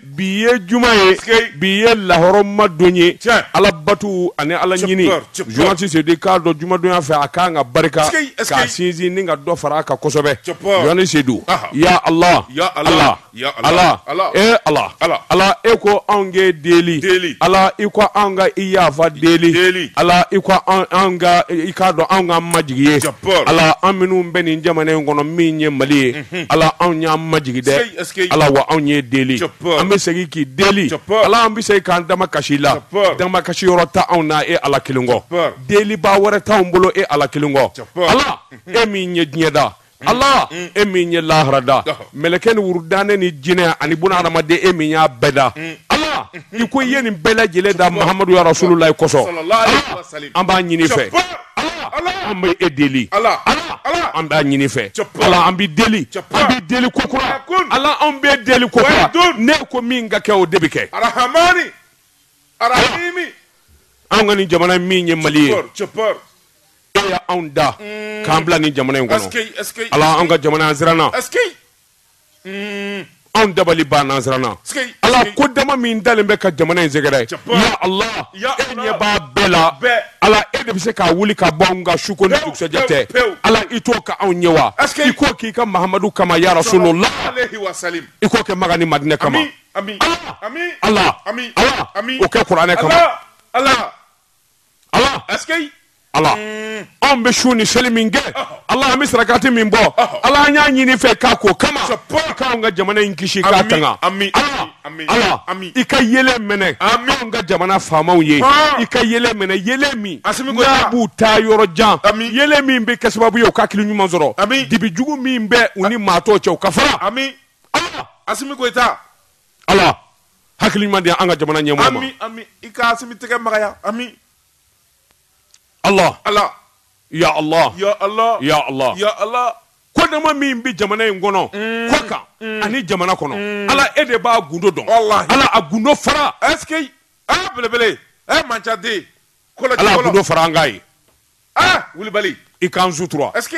bi ye juma ye bi ye lahɔrɔma don ye alabatu ani ala ɲini journaliste sedu k'a dɔn jumadonya fɛ a ka kan ka barika ka sinsin ni ka dɔ fara a kan kosɛbɛ journaliste sedu ya ala ya ala ya ala ala e ko anw k'e deli ala i ko an ka i yafa deli ala i ko i k'a dɔn an ka majigin i ye ala an minnu bɛ nin jamana in kɔnɔ min ye mali ye ala anw y'an majigin dɛ ala wa anw y'e deli an bɛ segin k'i deli ala an bɛ segin k'an damakasi i la damakasi yɔrɔ t'anw na e ala kelen kɔ deliba wɛrɛ t'an bolo e ala kelen kɔ ala e min ye diɲɛ da ala e min ye lahara da mɛlɛkɛ ni wurudanɛ ni jinɛ ani bunu hadamaden e min y'a bɛɛ da ala i ko i ye nin bɛɛ lajɛlen da mahamadu ya rasululayi kosɔn an b'a ɲini fɛ ala Ala! an bɛ e deli Ala! ala Ala! an b'a ɲini fɛ Cɛpa! ala an bɛ deli Cɛpa! an bɛ deli ko kura Yakun! ala an bɛ deli ko kura Wayidun! ne ko min ka kɛ o de bɛ kɛ arahamani arahimi an ka nin jamana min ye mali ye cɛpɔr cɛpɔr e y'anw da k'an bila nin jamana in kɔnɔ ɛseke ɛseke ala an ka jamana an siranna ɛseke Anw dabali banna an siranna ala ko dama min dalen bɛ an ka jamana in sɛgɛrɛ ya ala e ɲɛ b'a bɛɛ la ala e de bɛ se k'a wuli k'a bɔ an kan su ko ni dugusɛjɛ tɛ ala i t'o kɛ anw ɲɛ wa i k'o k'i ka mahamadu kama ya rasulula i k'o kɛ makan ni madina kama ala ala o kɛ kuranɛ kama ala ala anw bɛ sun ni seli min kɛ ala an bɛ sarakati min bɔ ala an y'a ɲini fɛ k'a k'o kama k'an ka jamana in kisi k'a tanga ala i ka yeelen mɛnɛ anw ka jamana faamaw ye i ka yeelen mɛnɛ yeelen min b'u taa yɔrɔ jan yeelen min bɛ kɛ sababu ye u ka hakili ɲuman sɔrɔ dibi jugu min bɛ u ni maa tɔ cɛ k'a fara ala asimi goyita ala hakili ɲuman di an ka jamana ɲɛmɔgɔ ma. Ami ami i ka Asimi tɛgɛ magaya ami. Allah Allah ya Allah ya Allah ya Allah ya Allah ko dama min bɛ jamana in kɔnɔ mm. kɔkan mm. ani jamana kɔnɔ mm. Ala e de b'a gundo dɔn Ala a gundo fara est ce que ɛ ah, belebele ɛ eh, mancaden Ala a gundo fara an k'a ye aa ah, Wulibali i k'an sutura est ce que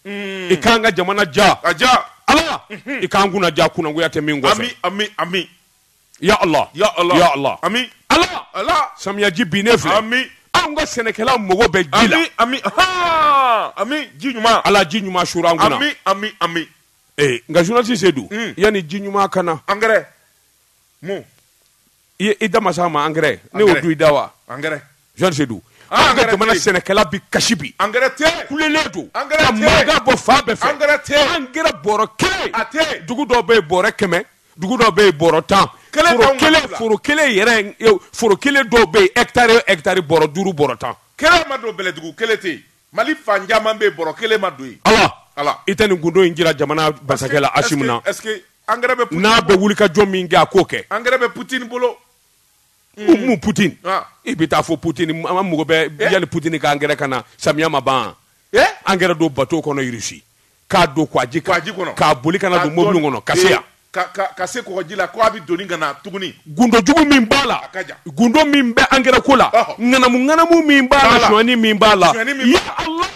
i k'an ka jamana ja ka ja ala i k'an kunna ja kunnagoya tɛ min kɔ ami ya ala ya ala ya ala ami ala ala samiyaji binnen filɛ ami anw ka sɛnɛkɛla mago bɛ ji la ami ami ji ɲuman ala ji ɲuman suuru an kunna ami ami ami ee nka journaliste sedu yanni ji ɲuman ka na angɛrɛ mun i i da masa ma angɛrɛ ne y'o don i da wa angɛrɛ journaliste Sedu ah, an ka jamana sɛnɛkɛla bi kasi bi angɛrɛ tɛ kulelen don angɛrɛ tɛ mankan bɔ fan bɛɛ fɛ angɛrɛ tɛ angɛrɛ bɔrɔ kelen a tɛ dugu dɔw bɛ yen bɔrɛ kɛmɛ dugu dɔw bɛ yen bɔrɔ tan foro kelen foro kelen yɛrɛ foro kelen dɔw bɛ yen hɛkitari hɛkitari bɔrɔ duuru bɔrɔ tan kelen ma don bɛlɛdugu kelen tɛ yen mali fan caman bɛ yen bɔrɔ kelen ma don yen ala ala i tɛ nin gundo in jira jamana masakɛ la asimu na Angɛrɛ bɛ Poutine n'a bɛ bolo. wulikajɔ min kɛ a k'o kɛ Angɛrɛ bɛ Poutine bolo. u mun Poutine Ah. i bɛ taa fɔ Poutine an ka mɔgɔ bɛ Eh. yali Poutine ka angɛrɛ ka na samiya ma ban Eh? angɛrɛ don bateau kɔnɔ Russie k'a don kɔgɔji kan Kɔgɔji kɔnɔ. k'a boli ka na don mobili kɔnɔ ka se yan Ka ka ka se kɔgɔji la ko a bɛ doni ka na tuguni. gundo jugu min b'a la ka jan. gundo min bɛ angɛrɛ ko la Ɔhɔ. ŋanamu ŋanamu min b'a B'a la la. sonyani min b'a la Sonyani min ya Allah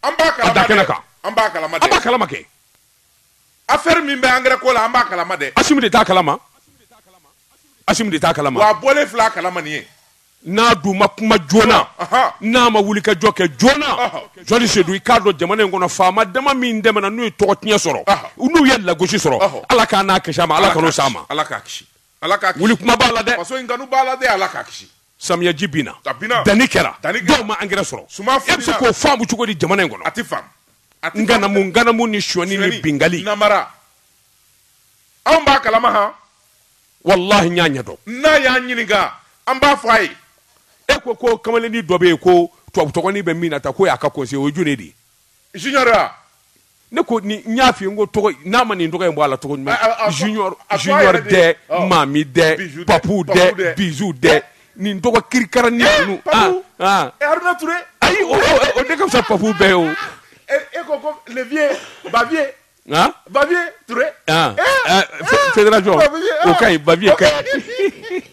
An b'a kalama. da kɛnɛ dɛ. kan. An b'a kalama. an dɛ. b'a kalama kɛ affaire min bɛ angɛrɛ ko la an b'a kalama dɛ asimu de t'a kalama asimu de t'a kalama a bɔlen fil'a kalama nin ye n'a dun ma kuma joona n'a ma wuli ka jɔ kɛ joona journaliste Sedu i k'a dɔn jamana in kɔnɔ faama dama min tɛmɛna n'u ye tɔgɔ tiɲɛ sɔrɔ n'u ye lagosi sɔrɔ ala k'a kisi a ma ala kan'o s'a ma ala k'a kisi ala ka wuli kuma b'a la dɛ faso in kanu b'a la dɛ ala k'a kisi samiyaji binna a binna danni kɛra danni kɛra dɔw ma angɛrɛ sɔrɔ suma e bɛ se k'o faamu cogo di jamana in kɔnɔ a ti faamu ŋanamu ŋanamu ni sonyani ni binkanni namara anw b'a kalama han walahi n y'a ɲɛdɔn n'a y'a ɲininka an b'a fɔ a ye e ko ko kamalenni dɔ bɛ yen ko tubabu tɔgɔnin bɛ min na ta ko y'a ka conseiller o ye jɔni de ye junior ne ko ni n y'a fɔ n ko tɔgɔ n'a ma nin tɔgɔ in bɔ a la tɔgɔ junior dɛ maami dɛ papu dɛ Bijou dɛ nin tɔgɔ kirikara ni ninnu ayi o de ka fisa papu bɛɛ ye o e ko ko le vieux Bavieux han Bavieux Touré han fédération o ka ɲi Bavieux ka ɲi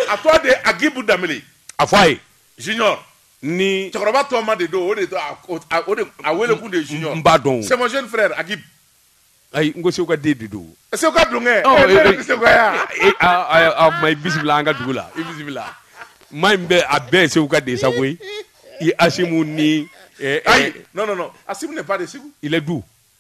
a tɔgɔ de Agibu Danbele a fɔ a ye junior ni cɛkɔrɔba tɔma de don o de a wele kun de ye junior n b'a dɔn c'est mon jeune frère Agib ayi n ko Segu ka den de don Seguka don kɛ oh, e bɛ Segu ya a ma i bisimila an ka dugu la i bisimila maa in bɛ a bɛɛ ye Segu ka den sa koyi i Asimu ni eh, eh. ayi non non non Asimu n'est pas de Segu il est d'où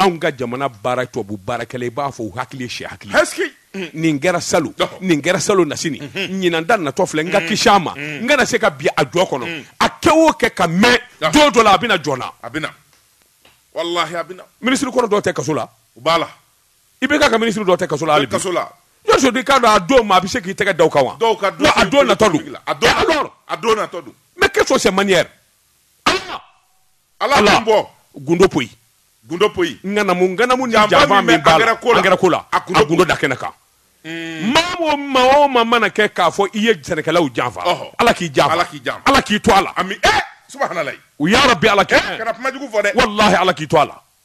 anw ka jamana baara tubabu baarakɛla i b'a fɔ u hakili ye syɛ hakili Est-ce que. nin kɛra salon Ɔhɔ. nin kɛra salon nasini ɲinan ta natɔ filɛ n ka kisi a ma n kana se ka bin a jɔ kɔnɔ a kɛ o kɛ ka mɛɛn Ɔhɔ. don dɔ la a bɛna joona a bɛna walahi a bɛna minisiri kɔrɔ dɔw tɛ kaso la u b'a la i bɛ ka ka minisiri dɔw tɛ kaso la hali bi kaso la yɔrɔ sɔrɔ i k'a dɔn a don ma a bɛ se k'i tɛgɛ da o kan wa dɔw ka Wa a don natɔ don a don Eh, alors? a don natɔ don mais qu'est-ce que c'est manière Ala ala b'o gundo poyi gundo poyi ŋanamu ŋanamu ni janfa min bɛ angɛrɛ ko la a gundo da kɛnɛ kan maa maa o maa mana kɛ k'a fɔ i ye sɛnɛkɛlaw janfa ala k'i janfa ala k'i janfa ala k'i to a la subhanallah ya rabi ala kana kumajugu fɔ dɛ walayi ala k'i to a la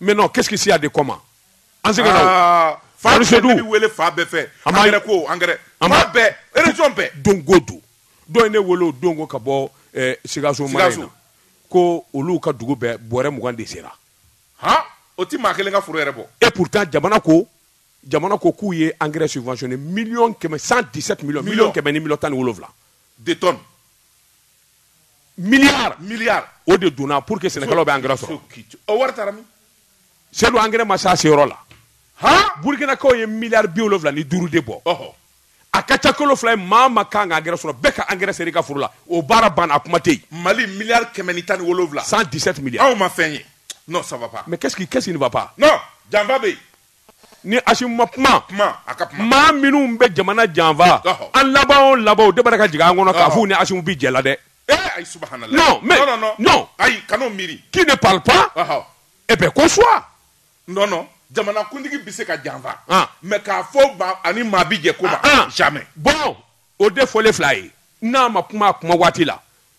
mais non qu'est-ce qu'il y a de commun an se ka na ah, fan bɛɛ ne bɛ wele fan bɛɛ fɛ angɛrɛ ko angɛrɛ fan bɛɛ région bɛɛ don ko don dɔ ye ne wele o don ko ka bɔ eh, Sikaso mara in na ko olu ka dugu bɛɛ bɔrɛ mugan de sera han o ti maa kelen ka foro yɛrɛ bɔ et pourtant jamana ko jamana ko k'u ye engrais subventionné million kɛmɛ 117 millions million kɛmɛ ni million tan ni wolonwula de tonnes milliard milliard o de donna pour que sɛnɛkɛlaw bɛ engrais sɔrɔ o wari taara min Seyidu engrais ma se a seyɔrɔ la han burkinakaw ye miliyari bi wolonwula ni duuru de bɔ a ka ca kalo fila ye maa ma kan ka angɛrɛ sɔrɔ bɛɛ ka angɛrɛ sera i ka foro la o baara banna a kuma tɛ yen mali miliyari kɛmɛ ni tan ni wolonwula 117 milliards anw ma fɛn ye non ça va pas mais qu'est-ce qui qu'est-ce qui ne va pas non janfa bɛ yen ni Asimi ma kuma maa minnu bɛ jamana janfa an laban o laban de b'a ka jigin an kɔnɔ k'a fɔ ni Asimi bɛ jɛ la dɛ kan'o miiri qui ne parle pas eh bien consent jamanakuntigi bɛ se ka janfa mais k'a fɔ a ni maa bɛ jɛ ko bon o de fɔlen filɛ ye n'a ma kuma kuma waati la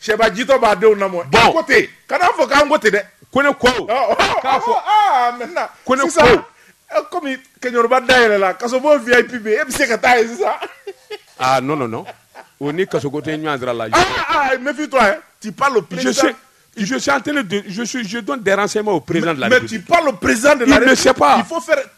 Sɛbajitɔ b'a denw na bɔn ko ten kana fɔ k'an ko ten dɛ ko ne ko k'a fɔ ko ne sa kɔmi kɛba da yɛrɛ la ka bɔ v bi e bɛ se ka taa ye sisan aa n nɔ o ni kaso ko tɛ ɲɔgɔn sira la mɛfin to ti psi tɛdɔn diyara sema o perez la mɛ palo perezd la sep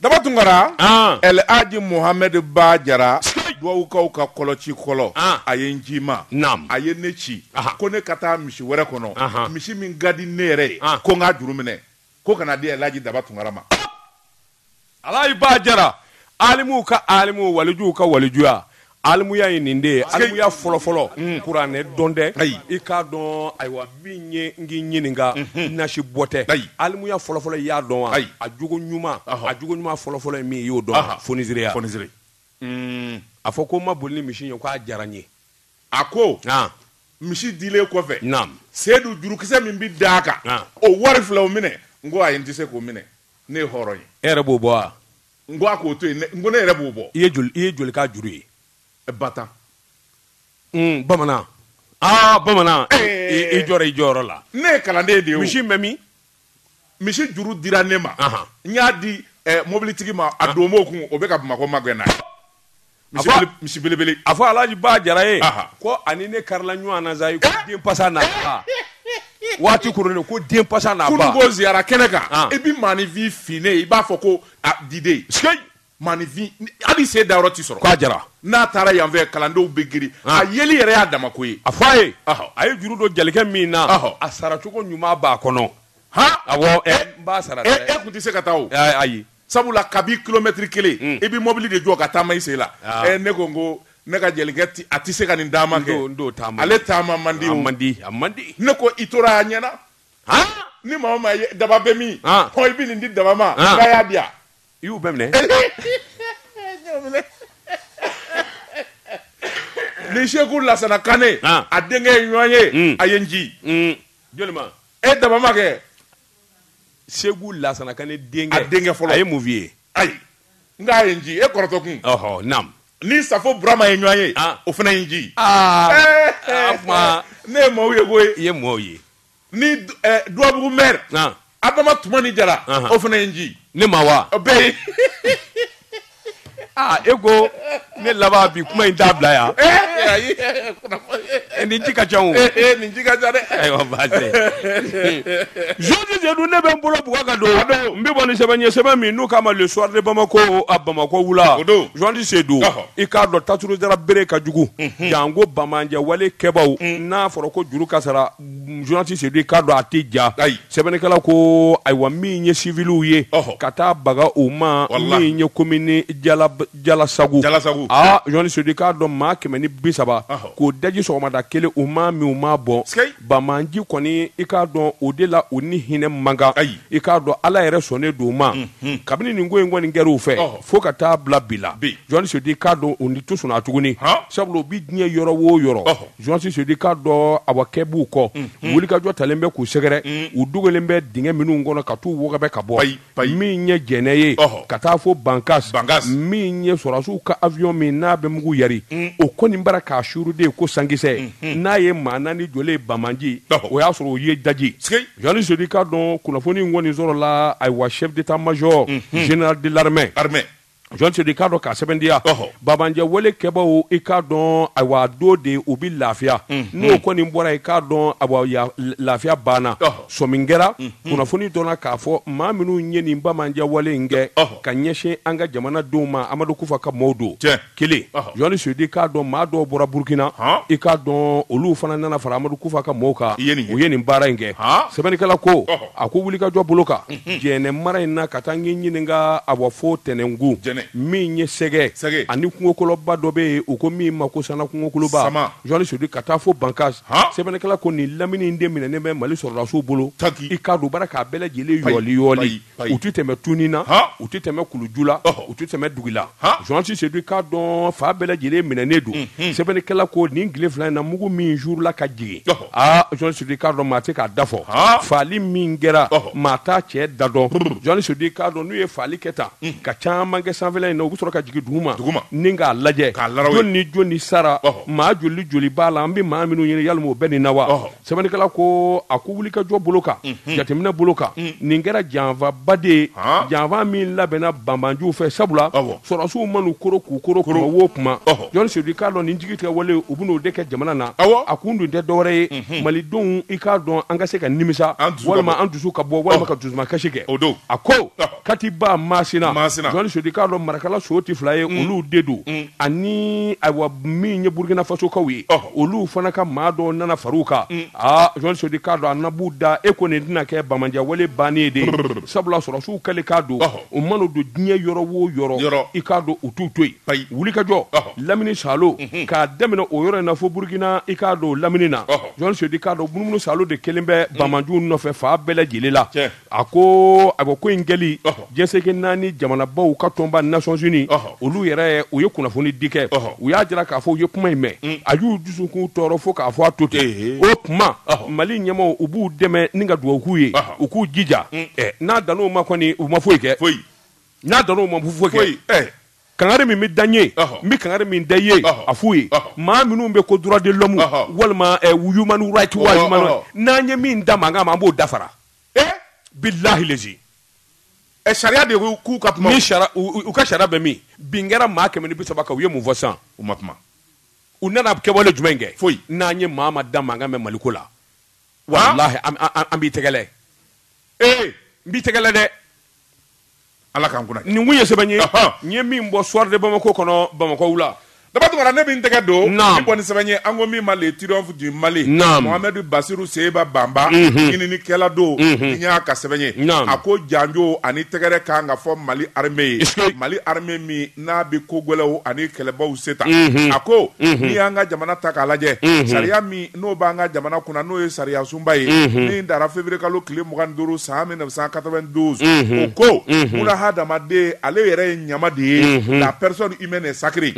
Daba tunkara alaaji muhamɛdi ba jara dugawukaw ka kɔlɔ ci kɔlɔ a ye n ci ma a ye ne ci ko ne ka taa misi wɛrɛ kɔnɔ misi min ka di ne yɛrɛ ye ko n k'a juru minɛ ko ka n'a di alaaji daba tunkara ma alaaji ba jara alimuw ka alimu walijuw ka walijuya Alimuya ye nin de ye alimuya fɔlɔfɔlɔ kuranɛ dɔn tɛ ayi i k'a dɔn ayiwa min ye n k'i ɲininka nasi bɔ tɛ ayi alimuya fɔlɔfɔlɔ i y'a dɔn wa ayi a jogo ɲuman a jogo ɲuman fɔlɔfɔlɔ ye min i y'o dɔn fonisereya fonisere a fɔ ko n ma boli ni misi ye k'a diyara n ye a ko misi dilen kɔfɛ naamu seyidu jurukisɛ min bɛ d'a kan o wari filɛ o minɛ n ko ayi n tɛ se k'o minɛ ne ye hɔrɔn ye e yɛrɛ b'o bɔ wa N ko a k'o to yen n ko ne yɛrɛ b'o bɔ. I ye joli i ye joli k'a juru ye? Ba tan. Un bamanan aa bamanan i jɔra i jɔyɔrɔ la. Ne ye kalanden de ye o. Misi in bɛ min? Misi juru dira ne ma. N y'a di mobilitigi ma a donmo kun o bɛ ka Bamakɔ magɛn n'a ye. Misibelebele a fɔ alaji ba jara ye ko ani ne karila ɲɔgɔn na sa den pasa na waati ko den pasa na ziyara kɛnɛ kan i bɛ maaninfin finnen i b'a fɔ ko diden maaninfin hali sen da yɔrɔ tɛ sɔrɔ k'a jara n'a taara yanfɛ kalandenw bɛ girin a yeli yɛrɛ y'a dama ko ye a fɔ a ye a ye juru don jelikɛ min na a saracogo ɲuman b'a kɔnɔ awɔ n b'a sara e tun tɛ se ka taa ayi sabula kabi kilomɛtiri kelen hmm. i bɛ mɔbili de jɔ ka taama i sen la ah. eh, ne ko n ko ne ka jelikɛ a tɛ se ka nin taama kɛ ale taama man di man di a man di ne ko i tora a ɲɛna ni maa ma ye daba bɛ min hɔn i bɛ nin di daba ma k'a y'a di yan i y'u bɛɛ minɛ ni seku lasana kane a denkɛ ye ɲɔgɔn ye hmm. a ye n ci hmm. jɔni ma e daba ma kɛ seku lasana kane denkɛ a denkɛ fɔlɔ a ye mun f'i ye ayi n k'a ye n ci e kɔrɔtɔ kun ɔhɔ nam ni safo burama ye ɲɔgɔn ye ah. o fana ye n ci ah. eh, eh, eh. ne ye maaw ye koyi i ye maaw ye ni duwabugu mɛri adama tumani jara o fana ye n ci ne ma wa bɛɛ ye aa e ko ne laban bi kuma in t'a bila yan Eh, nin ci ka ca o nin ci ka ca dɛ ayiwa baasi journaliste sedu ne bɛ n bolo bugɔ ka don n bɛ bɔ ni sɛbɛn ye sɛbɛn min n'u k'a ma le soir de bamako a bamako wula O don. journaliste sedu Ɔhɔ. i k'a dɔn tajurusara bere ka jugu janko banbaanci wale kɛbaw n'a fɔra ko juru ka sara journaliste sedu i k'a dɔn a tɛ ja ayi sɛbɛnnikɛla ko ayiwa min ye civiliw ye ɔhɔ ka taa baga u ma Walahi. min ye commune jala jalasagu Jalasagu. aa journaliste sedu i k'a dɔn maa kɛmɛ ni bi saba Ɔhɔ. k'o daji sɔgɔmada kelen u ma min u ma bɔn Sikei. banbaanci kɔni i k'a dɔn o de la u ni hinɛ man kan Ayi. i k'a dɔn ala yɛrɛ sɔnnen don u ma kabini nin ko in kɔni kɛra u fɛ Ɔhɔ. fo ka taa bila bi la Bi. journaliste sedu i k'a dɔn u ni tu sɔnna tuguni Han. sabula u bi diɲɛ yɔrɔ o yɔrɔ Ɔhɔ. Journaliste sedu i k'a dɔn a kɛ b'u kɔ wulikajɔ talen bɛ k'u sɛgɛrɛ u dogolen bɛ dingɛ minnu kɔnɔ ka taa u wara ka bɔ min ye jɛnɛ ye ka taa fo bankasi min ye sɔrɔsiw ka awiyɔn min n'a bɛ mugu yari o kɔni bɔra k'a suuru ten ko sankisɛ n'a ye maa naani jɔ ye banbaanci o y'a sɔrɔ u ye daji journaliste sedu i k'a dɔn kunnafoni in kɔni sɔrɔla ayiwa chef d'état-major général de l'armée journaliste sedu i k'a dɔn k'a sɛmɛntiya banbaanci wale kɛbaw i k'a dɔn ayiwa dogo de u bɛ lafiya n'u kɔni bɔra i k'a dɔn ayiwa lafiya banna sɔmi kɛra kunnafoni dɔnna k'a fɔ maa minnu ye nin banbaanci wale in kɛ ka ɲɛsin an ka jamanadenw ma amadu kufa ka maaw don kelen journaliste sedu i k'a dɔn maa dɔw bɔra burukina i k'a dɔn olu fana nana fara amadu kufa ka mɔgɔw kan u ye nin baara in kɛ sɛbɛnnikɛla ko a ko wulikajɔ bolo kan mhm. jɛnɛ mara in na ka taa n ye ɲininka ayiwa fo tɛnɛngu min ye sɛgɛ ani kungokoloba dɔ bɛ yen u ko min ma ko sama kungokoloba journaliste dit ka taa fo bankas sɛbɛnnikɛla ko nin lamini in de minɛnen bɛ mali sɔrɔdasiw bolo i k'a dɔn baara k'a bɛɛ lajɛlen yɔɔli yɔɔli u tɛ tɛmɛ tuni na u tɛ tɛmɛ kuluju la u tɛ tɛmɛ dugu la journaliste dit k'a dɔn fan bɛɛ lajɛlen minɛnen don mhm. sɛbɛnnikɛla ko nin tile fila in na mugu min suurula ka jigin Aa journaliste dit k'a dɔn maa tɛ k'a da fɔ faali min kɛra maa t'a cɛ da dɔn journaliste dit k'a dɔn n'u ye faali kɛ tan ka caman kɛ sanfɛ in na u bɛ sɔrɔ ka jigin duguma duguma ni k'a lajɛ jɔn ni jɔn ni sara maa joli joli b'a la an bɛ maa minnu ɲini yalima u bɛ nin na wa sɛbɛnnikɛla ko a ko wuli ka jɔ bolo kan jateminɛ bolo kan nin kɛra janfaba de ye janfa min labɛnna banbaanciw fɛ sabula sɔrɔdasiw man'u koron k'u koron kuma journaliste dit k'a dɔn nin jigitigɛ wale u bɛn'o de kɛ jamana na a kun dun tɛ dɔwɛrɛ ye mhm. malidenw i k'a dɔn an ka se ka nimisa walima an dusu ka bɔ walima oh. ka dusuma kasi kɛ o don a ko oh. katiba masina journaliste dit k'a dɔn marakala so tɛ fila ye mm. olu de don mm. ani ayiwa min ye burukina fasokaw ye oh. olu fana ka maa dɔ nana far'u kan mm. aa journaliste dit k'a dɔn a nabu da e ko nin tɛna kɛ banbaanci wale bannen de ye sabula sɔrɔdasiw kɛlen k'a dɔn u mana don diɲɛ yɔrɔ wo yɔrɔ i k'a dɔn u t'u to yen wulikajɔ lamini saalo k'a daminɛ o yɔrɔ in na fo burukina i k'a dɔn lamini na journaliste dit k'a dɔn munumunusaalo de kɛlen bɛ banbaanciw nɔfɛ fan bɛɛ lajɛlen la a ko a ko ko in kɛli diɲɛ seleke naani jamanabaw ka tɔnba nations unies olu yɛrɛ u ye kunnafoni di kɛ u y'a jira k'a fɔ u ye kuma in mɛn a y'u dusukun tɔɔrɔ fo k'a fɔ a to ten o tuma mali ɲɛmɔgɔw u b'u dɛmɛ ni ka dugawu k'u ye u k'u jija n'a dan o ma kɔni u ma foyi kɛ foyi n'a dan o ma foyi kɛ kangari min bɛ da n ye n bɛ kangari min da i ye a f'u ye maa minnu bɛ ko droit de l'homme walima human rights n'an ye min da mankan ma an b'o dafara bilahi lezi sariya de k'u ka kuma u ka sariya bɛ min bin kɛra maa kɛmɛ ni bi saba kan u ye mun fɔ sisan u ma kuma u nana kɛwale jumɛn kɛ foyi n'an ye maa min da mankan mɛn maliko la walahi an b'i tɛgɛ ee n b'i tɛgɛ dɛ Ala k'an kunna nin kun ye sɛbɛn ye n ye min bɔ soir de bamakɔ kɔnɔ bamakɔ wula daba tunkara ne min tɛgɛ don ni bɔ ni sɛbɛn ye an ko min ma le triomphe du mali mohamɛdi basiru seba banba ɲininikɛla don n y'a ka sɛbɛn ye a ko janjo ani tɛgɛrɛ ka kan ka fɔ mali armée ye mali armée min n'a bɛ ko gɛlɛnw ani kɛlɛbaw se ta mhm. a ko mhm. n'i y'an ka jamana ta k'a lajɛ mhm. sariya min n'o b'an ka jamana kunna n'o ye sariya sunba ye min dara février kalo tile mugan ni duuru san mille neuf cent quatre-vingt-douze o ko mun na hadamaden ale yɛrɛ ye ɲama de ye la personne humaine est sacrée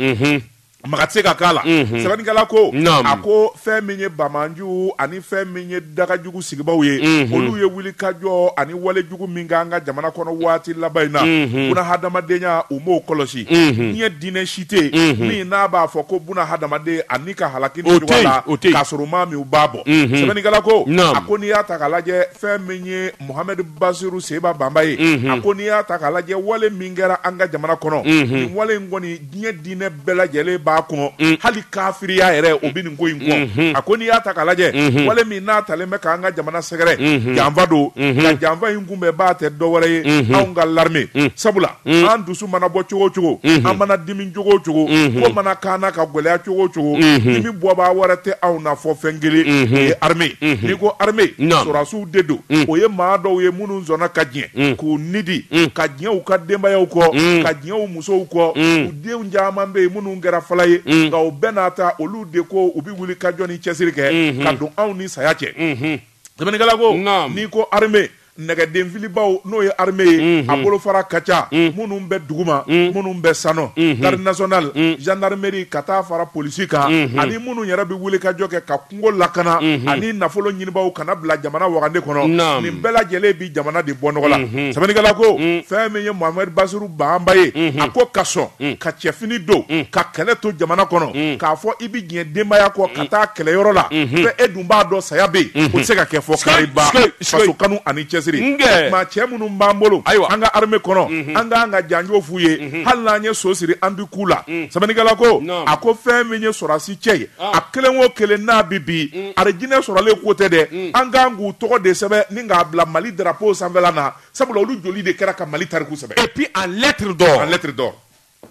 maga tɛ se ka k'a la sɛbɛnnikɛla ko Naamu. a ko fɛn min ye banbaanciw ani fɛn min ye dagajugu sigibaaw ye olu ye wulikajɔ ani wale jugu min k'an ka jamana kɔnɔ waati laban in na buna hadamadenya u m'o kɔlɔsi diɲɛ diinɛ si tɛ yen min n'a b'a fɔ ko buna hadamaden a ni ka halaki O tɛ yen, la o tɛ yen. k'a sɔrɔ u m'a min u m'a bɔn sɛbɛnnikɛla ko Naamu. a ko n'i y'a ta k'a lajɛ fɛn min ye Mohamed Basiru Seba Banba ye a ko n'i y'a ta k'a lajɛ wale min kɛra an ka jamana kɔnɔ nin wale in kɔni diɲɛ diinɛ bɛɛ lajɛlen b'a kɔn mm. hali kafiriya yɛrɛ o bɛ nin ko in kɔn mm-hmm. a ko n'i y'a ta k'a lajɛ mm-hmm. wale min n'a talen bɛ k'an ka jamana sɛgɛrɛ mm-hmm. janfa don nka janfa in kunbɛnbaa tɛ dɔ wɛrɛ ye anw ka larime mm. sabula mm. an dusu mana bɔ cogo o cogo an mana dimi cogo o cogo ko mana kan na ka gɛlɛya cogo o cogo dimibɔbaa wɛrɛ tɛ anw na fo fɛn kelen o ye arime n'i ko arime sɔrɔdasiw de don o ye maa dɔw ye minnu sɔnna ka diɲɛ k'u ni di ka diɲɛ u ka denbayaw kɔ ka diɲɛ u musow kɔ mm. u denw caman bɛ yen minnu kɛra fala ye mm. nka o bɛɛ n'a ta olu de ko u bɛ wulikajɔ ni cɛsiri kɛ mm-hmm. ka don anw ni saya cɛ mm-hmm. sɛbɛnnikɛla ko n'i ko armée nɛgɛdenfilibaw n'o ye armée ye mm-hmm. a bolofara ka ca minnu bɛ duguma minnu bɛ sano garde nationale gendarmerie ka taa fara polisi kan ani minnu yɛrɛ bɛ wulikajɔ kɛ ka kungo lakana ani nafolo ɲinibaaw ka n'a bila jamana wagande kɔnɔ nin bɛɛ lajɛlen bi jamana de bɔ nɔgɔ la sɛbɛnnikɛla ko fɛn min ye Mohamed Basiru Bamba ye a ko ka sɔn ka cɛfini don ka kɛlɛ to jamana kɔnɔ k'a fɔ i bɛ diɲɛ denbaya kɔ ka taa kɛlɛyɔrɔ la fɛ e dun b'a dɔn saya bɛ yen o tɛ se ka kɛ fo kariba faso kanu ani cɛsiri maa cɛ minnu b'an bolo ayiwa an ka armée kɔnɔ an kan ka janjo f'u ye hali n'an ye so siri an bɛ k'u la sɛbɛnnikɛla ko a ko fɛn min ye sɔrɔdasi cɛ ye a kelen o kelen n'a bɛ bin mm. arijinɛ sɔrɔlen kɔ tɛ dɛ mm. an kan k'u tɔgɔ de sɛbɛn ni k'a bila mali darapo sanfɛla na sabula olu joli de kɛra ka mali tariku sɛbɛn et puis en lettre d'or en lettre d'or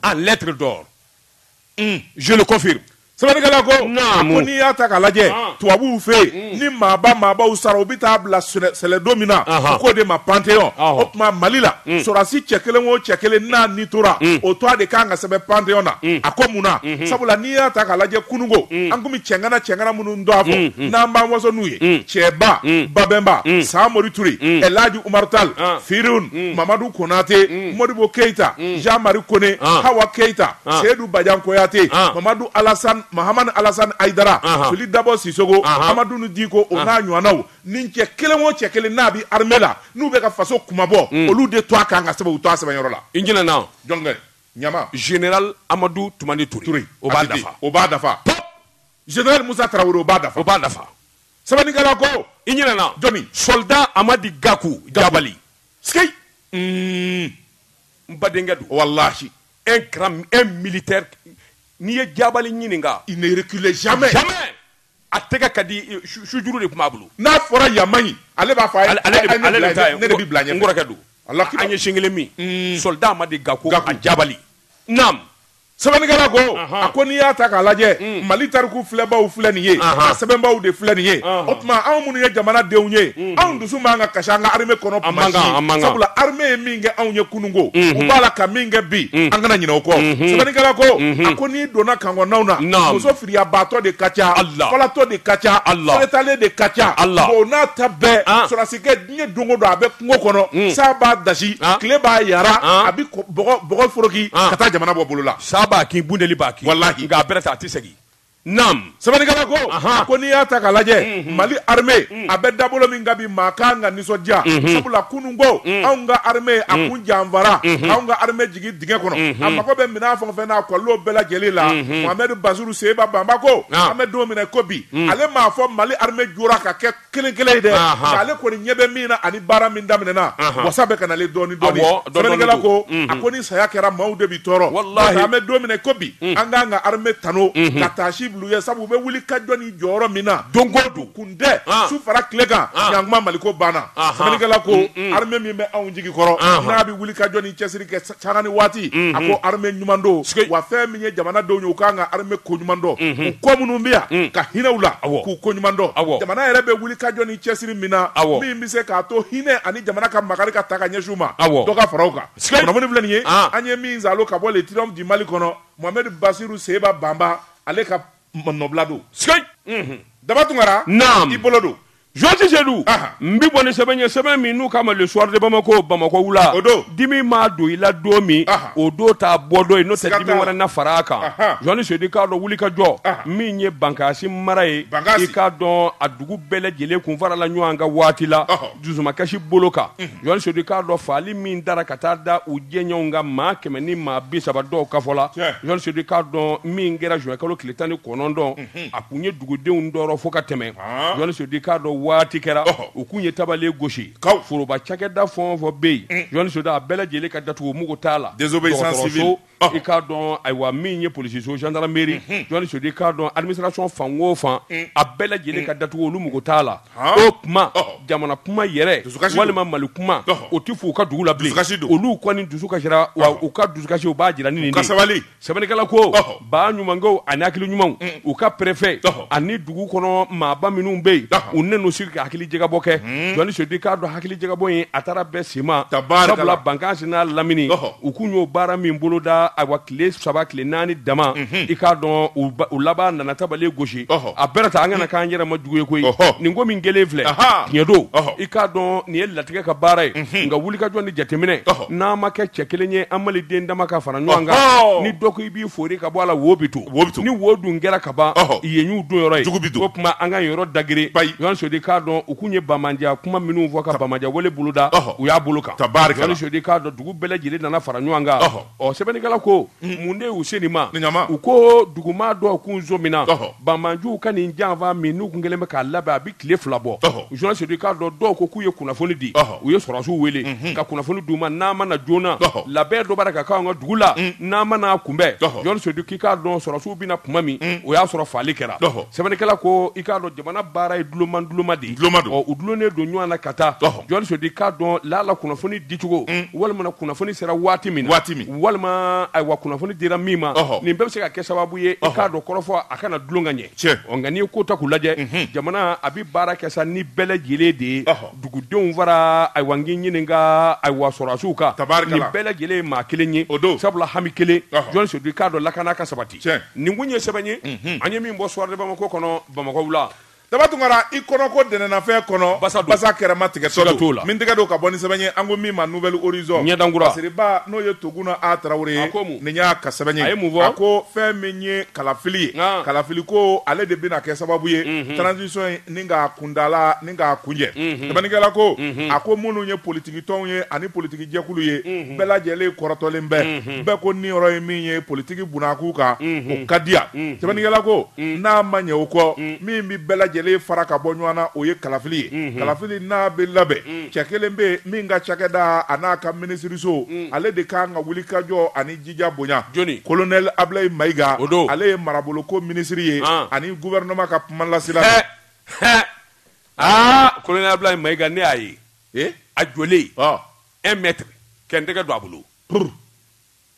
en lettre d'or mm. je le confirme sɛbɛnnikɛla ko ko n'i y'a ta k'a lajɛ ah. tubabuw fɛ yen ni maaba maabaw sara u bɛ taa bila sɛlɛdo min na u k'o de ma Panthéon o tuma mali la sɔrɔdasi cɛ kelen o cɛ kelen n'a ni tora o tɔgɔ de kan ka sɛbɛn Panthéon na a ko mun na sabula n'i y'a ta k'a lajɛ kunun ko an tun bɛ cɛŋana cɛŋana minnu dɔn a fɔ n'an b'an waso n'u ye cɛba babɛnba samori ture ɛlaji umaru tali firihun mamadu konate modibo keyita jan mari kone hawa keyita seyidu bajan kuyate mamadu alasa Mahamani Alasani Ayidara, anhan, Fili Dabɔ Sisogo, anhan, Amadun Diko o n'a ɲɔgɔnnaw nin cɛ kelen o cɛ kelen n'a bɛ armée la n'u bɛ ka faso kunmabɔ olu de tɔgɔ kan ka sɛbɛn u tɔgɔ sɛbɛnyɔrɔ la. I ɲinɛna o. Jɔnkɛ, ɲama. Général Amadu Tumani Ture. Ture. O b'a dafa. O b'a dafa. Pɔp! Général Musa Tarawele o b'a dafa. O b'a dafa. Sɛbɛnnikɛla ko. I ɲinɛna. Jɔni? Soldat Amadi Gaku Jabali. Sikeyi! Uun! N badenkɛ don. Walahi! e kɛra un militaire n'i ye jabali ɲininka il ne recule jamais a tɛgɛ ka di sujuru de tun b'a bolo n'a fɔra ya ale b'a fɔ ne de bɛ bila ɲɛ n kɔrɔkɛ don ala an ye sin kelen min soldat amadi gakou jabali naam sɛbɛnnikɛla ko a ko n'i y'a ta k'a lajɛ mali tariku filɛbaw filɛ nin ye a sɛbɛnbaw de filɛ nin ye o tuma anw minnu ye jamanadenw ye anw dusu man kan ka kasi an ka armée kɔnɔ sabula armée ye min kɛ anw ye kununko u b'a la ka min kɛ bi an kana ɲinɛ o kɔ sɛbɛnnikɛla ko a ko n'i donna camp kɔnɔnaw na Naam. muso firiyabaatɔ de ka ca Allah. falatɔ de ka ca Allah. fɛrɛtalen de ka ca Allah. o n'a ta bɛɛ Ah. sɔrɔdasikɛ diɲɛ don o don a bɛ kungo kɔnɔ san b'a dasi Ah. tile b'a yara Ah. a bɛ ko- bɔgɔ bɔgɔ foroki Ah. ka taa jamana bɔ bolo la sa b'a kin bunteni b'a kin Walahi. nka a bɛrɛ tɛ a tɛ segin Sɛbɛnnikɛla ko a ko n'i y'a ta k'a lajɛ mali armée a bɛ dabolo min kan bi maa kan ka nisɔndiya sabula kunun ko anw ka armée a kun janfara ka anw ka armée jigin dingɛ kɔnɔ a mago bɛ minɛn fɛn o fɛn na a kɔlen bɛɛ lajɛlen la mohamed basiru seba banba ko an bɛ don min na ko bi ale m'a fɔ mali armée jɔra ka kɛ kelen kelen ye dɛ Ahan. nka ale kɔni ɲɛ bɛ min na ani baara min daminɛna Ahan. wasa bɛ ka nalen dɔɔni dɔɔni Awɔ, dɔɔni dɔɔni sɛbɛnnikɛla ko don. Mhm. a ko ni saya kɛra maaw de bi tɔɔrɔ Walahi. Nka an bɛ don min na ko bi an k'an ka armée tano ka taasi bila u ye sabu u bɛ wuli ka jɔ ni jɔyɔrɔ min na Don o don. kun tɛ Ah. su fara tile kan Ah. ɲankuma maliko banna Ahan. sɛbɛnnikɛla ko armée min bɛ anw jigi kɔrɔ Ahan. n'a bɛ wuli ka jɔ ni cɛsiri kɛ Sanga ni waati a ko armée ɲuman don wa fɛn min ye jamanadenw ye u kan ka armée ko ɲuman dɔn u kɔ minnu bɛ yan ka hinɛ u la k'u ko ɲuman dɔn jamana yɛrɛ bɛ wuli ka jɔ ni cɛsiri min na min bɛ se k'a to hinɛ ani jamana ka makari ka taa ka ɲɛsin u ma dɔ ka fara u kan kunnafoni filɛ nin ye an ye min zalon ka bɔ le triomphe du mali kɔnɔ mohamed basiru seba banba ale ka nɔbila don daba tunkara i bolo don Jɔsi sedu n bɛ bɔ ni sɛbɛn ye sɛbɛn min n'u k'a ma le soir de bamakɔ bamakɔ wula o don dimi maa don i la don min o don t'a bɔ don ye n'o tɛ dimi wɛrɛ na fara a kan jɔsi sedu i k'a dɔn wuli ka jɔ min ye bankasi mara ye i k'a dɔn a dugu bɛɛ lajɛlen kun farala ɲɔgɔn kan waati la dusumakasi bolo kan jɔsi sedu i k'a dɔn faali min dara ka taa da u jɛɲɔgɔnw kan maa kɛmɛ ni maa bi saba dɔw ka fɔ la jɔsi sedu i k'a dɔn min kɛra zuwɛnkalo tile tan ni kɔnɔntɔn a tun ye dugudenw tɔɔrɔ fo ka tɛmɛ jɔsi sedu i k'a dɔn waati kɛra u tun ye tabale gosi foroba cakɛda fɛn o fɛn bɛ yen jɔsi sedu a bɛɛ lajɛlen ka datugu u mago t'a la i k'a dɔn ayiwa min ye polisiso gendarmerie jɔsi sedu i k'a dɔn administration fan o fan a bɛɛ lajɛlen ka datugu olu mago t'a la o tuma jamana kuma yɛrɛ walima mali kuma o tɛ fɔ u ka dugu la bilen olu kɔni dusu kasira wa u ka dusukasi u b'a jira sabali Sɛbɛnnikɛla ko ba ɲumankɛ ani hakili ɲuman u ka pɛrefɛ ani dugu kɔnɔ maaba minnu bɛ yen u nan'u sigi ka hakili jagabɔ kɛ jɔn Seyidu i k'a dɔn hakili jagabɔ in a taara bɛɛ sema sabula Bankasi n'a lamini u tun y'o baara min boloda ayiwa tile saba tile naani dama i k'a dɔn u laban nana tabali gosi a bɛrɛ ta an kana k'an yɛrɛ ma jugu ye koyi nin ko min kɛlen filɛ tiɲɛ don i k'a dɔn nin ye latigɛ ka baara ye nka wulikajɔ ni jateminɛ n'an ma kɛ cɛ kelen ye an Maliden dama ka fara ɲɔgɔn kan ni dɔ ko i b'i fori ka bɔ a la wo bɛ to ni wo dun kɛra ka ban y'u don yɔrɔ ye o tuma an ka yɔrɔ dageren jɔn Seyidu k'a dɔn u tun ye bamaja kuma minnu fɔ ka bamaja wale boloda u y'a bolo kan Seyidu k'a dɔn dugu bɛɛ lajɛlen nana fara ɲɔgɔn kan ɔ sɛbɛnnikɛla ko mun de y'u se nin ma u ko dugumaa dɔw kun sɔminna banjuw ka nin janfa min n'u tun kɛlen bɛ k'a labɛn a bɛ tile fila bɔ jɔn Seyidu i k'a dɔn dɔw ko k'u ye kunnafoni di u ye sɔrɔdasiw weele ka kunnafoni d'u ma n'a ma na joona labɛn dɔ b'a la ka k'an ka dugu la n'a ma n'a kunbɛn jɔn Seyidu k'i k'a dɔn sɔrɔdasiw bɛna na tuma min o y'a sɔrɔ faali kɛra sɛbɛnnikɛla ko i k'a dɔn jamana baara ye duloma duloma de ye u dulonnen don ɲɔgɔn na ka taa jɔn Seyidu i k'a dɔn lala kunnafoni dicogo walima kunnafoni sera waati min walima ayiwa kunnafoni dira min ma nin bɛɛ bɛ se ka kɛ sababu ye k'a dɔn kɔrɔfɔ a kana dulon ka ɲɛ cɛ nka n'i ye ko ta k'u lajɛ jamana a bɛ baara kɛ sa ni bɛɛ lajɛlen de ye dugudenw fara ayiwa n k'i ɲininka ayiwa sɔrɔdasiw kan tari nin bɛɛ lajɛlen ye maa kelen ye o don sabula hami kelen jɔn Seyidu i k'a dɔn lakana ka sabati nin kun ye sɛbɛn ye an ye min bɔ Soir de Bamako kɔnɔ Bamakɔ wula Daba Tunkara, i kɔnɔ ko dɛnɛnnafɛn kɔnɔ, basa don, basa kɛrɛma tigɛtɔ don, siga t'o la, min tɛgɛ don ka bɔ ni sɛbɛn ye, an ko min ma Nouvel Horizon, Ɲɛdankura, lasiribaa n'o ye Toguna A Tarawele ye, a ko mun? nin y'a ka sɛbɛn ye, a ye mun fɔ? a ko fɛn min ye kalafili ye, an, kalafiliko ale de bɛna kɛ sababu ye, unhun, transition in ni k'a kuntaala ni k'a kuncɛ, unhun, sɛbɛnnikɛla ko, unhun, a ko minnu ye politikitɔnw ye ani politikijɛkulu ye, unhun, bɛɛ lajɛlen kɔrɔtɔlen bɛ, unhun. bɛɛ ko niyɔrɔ ye min ye politiki bunna kuu kan o ka diya sɛbɛnnikɛla ko n'a ma ɲɛ o kɔ min bɛ bɛɛ lajɛlen fara ka bɔ ɲɔgɔn na o ye kalafili ye kalafili n'a bɛ labɛn cɛ kelen bɛ yen min ka cakɛda an'a ka minisiriso ale de ka kan ka wulikajɔ ani jija bonya jɔnni kolonɛli Abulayi Mayiga o don ale ye maraboloko minisiri ye ani gɔfɛrɛnaman ka kumalasela aa kolonɛli Abulayi Mayiga ne y'a ye a jɔlen un mètre kɛ n tɛgɛ don a bolo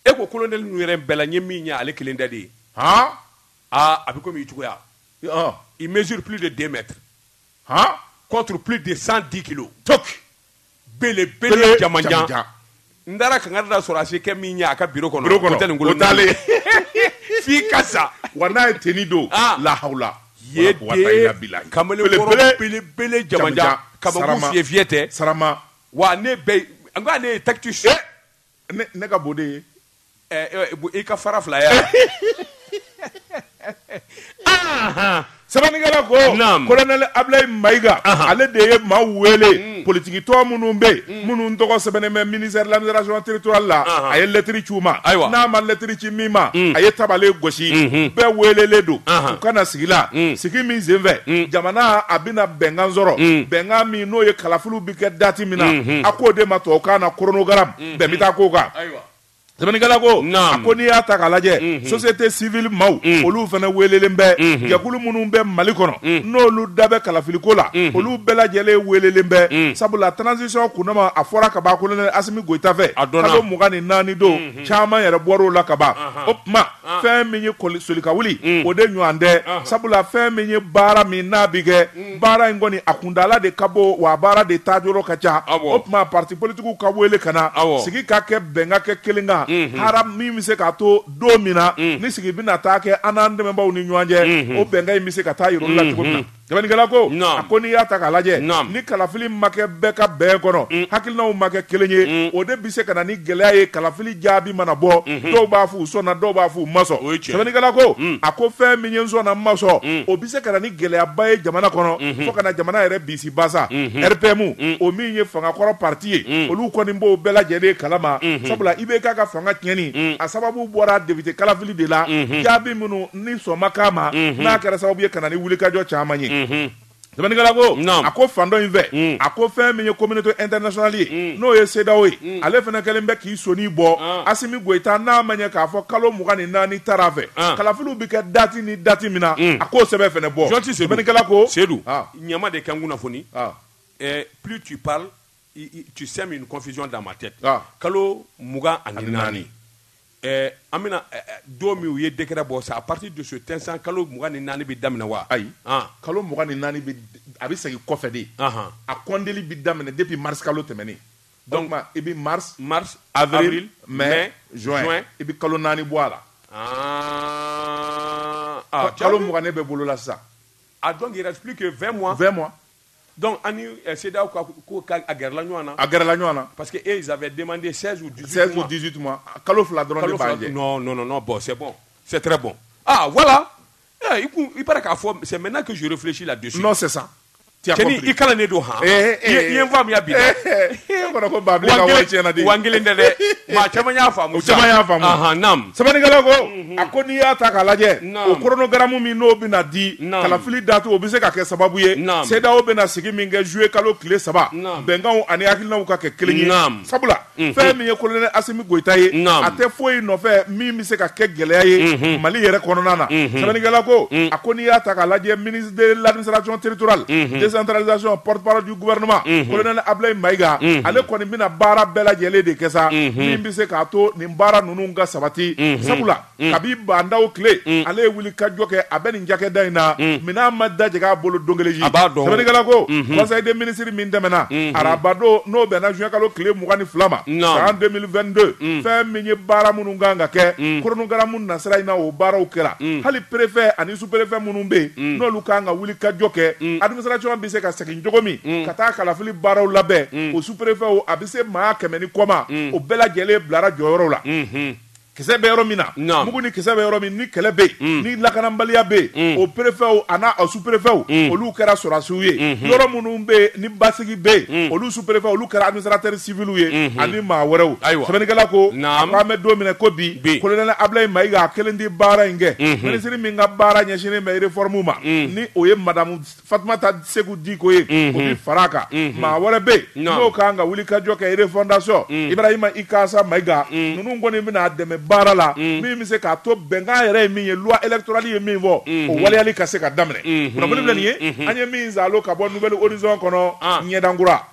e ko kolonɛli ninnu yɛrɛ bɛɛ la n ye min ye ale kelen dan de ye aaa a bɛ komi i cogoya il mesure plus de deux mètres contre plus de cent dix kilos belebele jamanjan n taara ka da sɔrɔ a se kɛ min ye a ka biro kɔnɔ t'ale f'i ka sa wa n'a ye tenue don lahawula kamalen belebele jamanjan kaba fi fyɛ tɛ Wa ne ne ye takiti su ne ka bon de ye i ka fara fila yan aa sɛbɛnnikɛla ko colonel Ablaye Mayiga ale de ye maa wele politigitɔn minnu bɛ yen minnu tɔgɔ sɛbɛnnen bɛ ministère de l'administration territoriale la a ye lɛtiri ci u ma ayiwa n'a ma lɛtiri ci min ma a ye tabale gosi bɛɛ welelen don u ka na sigi la sigi min senfɛ jamana a bɛna bɛnkan sɔrɔ bɛnkan min n'o ye kalafiliw kɛ dati min na a k'o de ma tubabukan na chronogramme bɛn bɛ taa k'o kan sɛbɛnnikɛla ko a ko n'i y'a ta k'a lajɛ société civile maaw olu fana welelen bɛ jɛkulu minnu bɛ Mali kɔnɔ n'olu da bɛ kalafiliko la olu bɛɛ lajɛlen welelen bɛ sabula transition kundama a fɔra kaban colonel Asimi Goyita fɛ kalo mugan ni naani don caman yɛrɛ bɔr'o la kaban o tuma fɛn min ye solika wuli mm. o de ɲɔgɔn tɛ ah. sabula fɛn min ye baara min n'a bɛ kɛ mm. baara in kɔni a kuntaala de ka bon wa baara de taa yɔrɔ ka ca o tuma parti politigiw ka wele ka na sigi ka kɛ bɛnkan kɛ kelen kan mm-hmm. hara min bɛ se k'a to don min na mm. ni sigi bɛna taa kɛ an n'an dɛmɛbaaw ni ɲɔgɔn cɛ mm-hmm. o bɛnkan in bɛ se ka taa yir'u la cogo min na mm-hmm. Sɛbɛnnikɛla ko a ko n'i y'a ta k'a lajɛ ni kalafili ma kɛ bɛɛ ka bɛn kɔnɔ hakilinaw ma kɛ kelen ye o de bɛ se ka na ni gɛlɛya ye kalafili jaabi mana bɔ dɔw b'a fɔ u sɔnna dɔw b'a fɔ u ma sɔn sɛbɛnnikɛla ko a ko fɛn min ye n sɔnna n ma sɔn o bɛ se ka na ni gɛlɛyaba ye jamana kɔnɔ fo ka na jamana yɛrɛ bisibasa RPM o min ye fangakɔrɔ pati ye olu kɔni b'o bɛɛ lajɛlen kalama sabula IBK ka fanga tiɲɛni a sababu bɔra depite kalafili de la jaabi minnu ni sɔn ma k'a ma mhm. n'a kɛra sababu ye ka na ni wulikajɔ caman ye mhm. sɛbɛnnikɛla ko a ko fan dɔ in fɛ mm. a ko fɛn min ye communauté internationale ye mm. n'o ye CEDEAO ye mm. ale fana kɛlen bɛ k'i soni bɔ ah. Asimi Goyita n'a maaw ye k'a fɔ kalo mugan ni naani tara u fɛ ah. kalafiliw bɛ kɛ dati ni dati min na a k'o sɛbɛn fana bɔ sɛbɛnnikɛla ko Sedu ah. ɲama de kɛ n kunnafoni eh, plus tu parles tu sèmes une confusion dans ma tête kalo mugan ani naani An bɛna don min u ye décret bɔ sa à partir de cet instant kalo mugan ni naani bɛ daminɛ wa ayi kalo mugan ni naani a bɛ segin kɔfɛ de a kɔnteli bɛ daminɛ depuis mars kalo tɛmɛnen donc i bɛ mars avril mai juin i bɛ kalo naani bɔ a la aa kalo mugan ne bɛ bolo la sisan donc il reste plus que vingt mois Donc an ni CEDEAO ka ko ka a gɛrɛla ɲɔgɔn na, a gɛrɛla ɲɔgɔn na parce que eux ils avaient demandé 16 ou 18 mois kalo 2 dɔrɔn de b'an cɛ, non non non bon c'est bon c'est très bon ah voilà il paraît k'a fɔ c'est maintenant que je réfléchis là-dessus non c'est ça tu as compris cɛnin i kalannen don han ee ee i ye n faamuya bi dɛ e kɔnɔ ko Baabili ka wari tiɲɛna de wa n kelen tɛ dɛ maa caman y'a faamu sa o caman y'a faamu anhan naam sɛbɛnnikɛla ko a ko n'i y'a ta k'a lajɛ o chronogramme min n'o bɛna di kalafili date o bɛ se ka kɛ sababu ye CEDEAO bɛna sigi min kɛ zuye kalo tile saba bɛnkanw ani hakilinaw ka kɛ kelen ye sabula fɛn min ye kolonɛli Asimi Goyita ye a tɛ foyi nɔfɛ min bɛ se ka kɛ gɛlɛya ye mali yɛrɛ kɔnɔna na sɛbɛnnikɛla ko a ko n'i y'a ta k'a lajɛ ministre de l'administration territoriale décentralisation porte-parole du gouvernement kolonɛli Abulayi Mayiga ale kɔni bɛna baara bɛɛ lajɛlen de kɛ sa min bɛ se k'a to nin baara ninnu ka sabati sabula kabi Ba Ndaw tile ale ye wuli ka jɔ kɛ a bɛ nin cakɛda in na minɛn ma dajɛ a bolo don kelen sɛbɛnnikɛla ko conseil des ministres min tɛmɛna arabadon n'o bɛnna zuwɛn kalo tile mugan ni fila ma san deux mille vingt-deux fɛn min ye baara minnu kan ka kɛ chronogramme nasira in na o baaraw kɛra hali perefɛ ani su perefɛ minnu bɛ yen n'olu ka kan ka wuli ka jɔ kɛ administration bɛ se ka segin cogo min ka taa kalafili baaraw labɛn o su perefɛw a bɛ se maa kɛmɛ ni kɔ ma o bɛɛ lajɛlen bilara jɔyɔrɔ la kisɛ bɛ yɔrɔ min na mugu ni kisɛ bɛ yɔrɔ min ni kɛlɛ bɛ mm. ni lakanabaliya bɛ mm. o perefɛw a n'a a su perefɛw mm. olu kɛra sɔrɔdasiw ye mm-hmm. yɔrɔ minnu bɛ ni basigi bɛ olu su perefɛw olu kɛra administrateurs civils ye mm-hmm. ani maa wɛrɛw sɛbɛnnikɛla ko an bɛ don min na ko bi kolonɛli Abulayi Mayiga a kelen tɛ baara in kɛ mm-hmm. minisiri min ka baara ɲɛsinnen bɛ réforme ma ni o ye madamu Fatumata Seku Diko ye o bɛ fara a kan maa wɛrɛ bɛ yen n'o kan ka wuli ka jɔ kɛ refondation Ibrahima Ikasa Mayiga ninnu kɔni bɛna a dɛmɛ baara la min bɛ se k'a to bɛnkan yɛrɛ ye min ye loi électorale ye min fɔ o waleyali ka se ka daminɛ filɛ nin ye an ye min salon ka bɔ Nouvel Horizon kɔnɔ ɲɛdan kura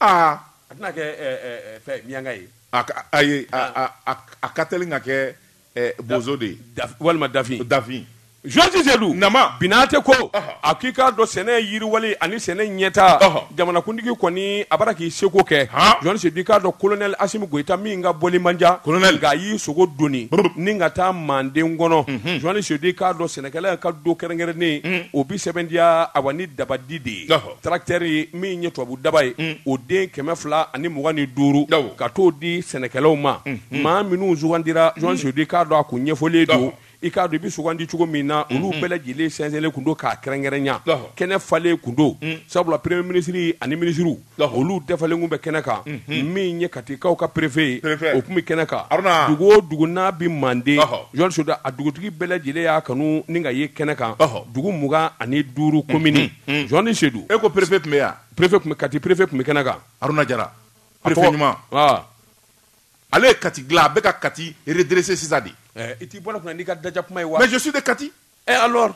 aa a tɛna kɛ ɛ, ɛ, ɛ, fɛn miyanka ye a ka- a ye a a- a- a ka teli ka kɛ eh, bozo de ye Daf- walima dafin dafin Jose Sedu Nama. Binate ko Ɔhɔ. a k'i k'a dɔn sɛnɛ yiriwali ani sɛnɛ ɲɛtaa Ɔhɔ. jamanakuntigi kɔni a bara k'i seko kɛ Han. Jose Sedu i k'a dɔn kolonɛli Asimi Goyita min ka bɔli man diya Colonel. nka a y'i sogo dɔɔni Brr. ni ka taa manden kɔnɔ Jose Sedu i k'a dɔn sɛnɛkɛla ka don kɛrɛnkɛrɛnnen o bi sɛbɛntiya awa ni dabadi de ye Ɔhɔ. Tracteur min ye tubabu daba ye o den kɛmɛ fila ani mugan ni duuru ka t'o di sɛnɛkɛlaw ma maa minnu sugandira Jose Sedu i k'a dɔn a kun ɲɛfɔlen don i k'a dɔn i bɛ sugandi cogo min na olu bɛɛ lajɛlen sɛnsɛnnen tun don k'a kɛrɛnkɛrɛnya kɛnɛ falen tun don sabula premier ministre ani minisiriw olu dafalen tun bɛ kɛnɛ kan min ye katikaw ka perefe o tun bɛ kɛnɛ kan dugu o dugu n'a bɛ Manden Jose Sedu a dugutigi bɛɛ lajɛlen y'a kanu ni ka ye kɛnɛ kan dugu mugan ani duuru komini Hmm. Jose Sedu e ko perefe tun bɛ yan perefe Kati perefe tun bɛ kɛnɛ kan haruna jara perefe ɲuman ah. ale ye kati dilan a bɛ ka kati redresser sisan de eh, i t'i bɔ an kunna n'i ka daja kuma ye wa mais je suis de kati eh alors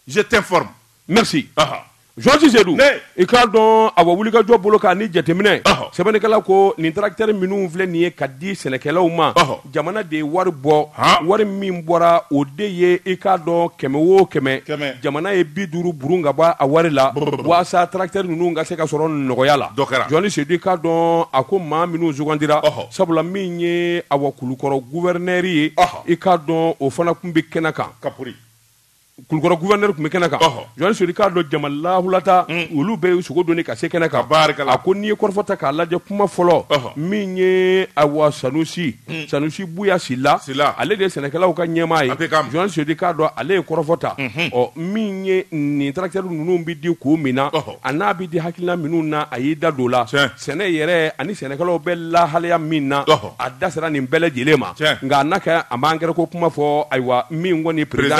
je t'informe merci uh -huh. Jose Sedu i k'a dɔn a wuli ka jɔ bolo kan ni jateminɛ sɛbɛnnikɛla ko nin tracteur minnu filɛ nin ye ka di sɛnɛkɛlaw ma jamana de ye wari bɔ wari min bɔra o de ye i k'a dɔn kɛmɛ wo kɛmɛ jamana ye bi duuru burun ka bɔ a wari la walasa tracteurs ninnu ka se ka sɔrɔ nɔgɔya la journaliste Sedu i k'a dɔn a ko maa minnu sugandira sabula min ye awa Kulukɔrɔ gouverneur ye i k'a dɔn o fana tun bɛ kɛnɛ kan kulukɔrɔ gouverneur tun bɛ kɛnɛ kan, ɔhɔ, journaliste Sedu i k'a dɔn jama lahulata, un, olu bɛɛ y'u sogo doni ka se kɛnɛ kan, tabaarikala, a ko n'i ye kɔrɔfɔ ta k'a lajɛ kuma fɔlɔ, ɔhɔ, min ye awa Sanusi, un, Sanusi Buya Sila, Sila, ale de ye sɛnɛkɛlaw ka ɲɛmaa ye, APCAM, journaliste Sedu i k'a dɔn ale ye kɔrɔfɔ ta, unhun, ɔ min ye nin tracteurs ninnu bɛ di kun min na, ɔhɔ, a n'a bɛ di hakilina minnu na a y'i da don o la, tiɲɛ. sɛnɛ yɛrɛ ani sɛnɛkɛlaw bɛ lahalaya min na a da sera nin bɛɛ lajɛlen ma nka n'a kɛ a m'angɛrɛ ko kuma fɔ ayiwa min kɔni président